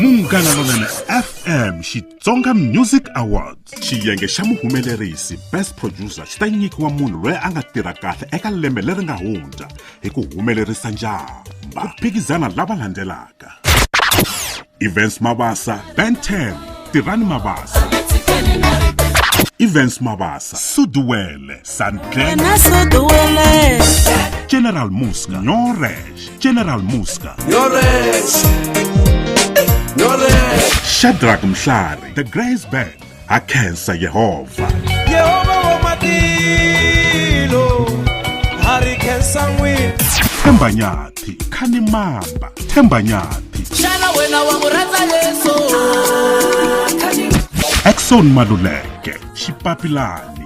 munghana lonene fm xitsonga music awards xiyenge xa muhumelerisi best producer xi ta nyikiwa munhu loyi a nga tirha kahle eka lembe leri nga hundza hi ku humelerisa njhamba ku phikizana lava landzelaka events mabasa ben 10 tirhani mabasa events mabasa suduwele sandlena general muska nyore general muska shadrack mhlari the grace band akhensa yehova yehova wa matilo a ri khensa n'wini themba nyathi khani mamba themba nyathi xana wena wa n'wi rhandza yesu exon maluleke xipapilani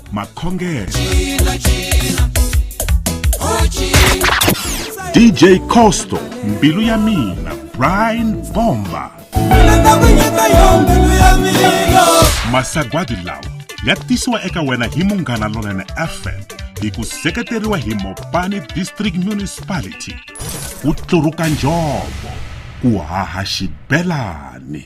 makhongelo dj costo mbilu ya mina brian bomba masagwadi lawa ya tisiwa eka wena hi munghana lonene fm hi ku seketeriwa hi mopani district municipality ku tluruka njhovo ku haha xibelani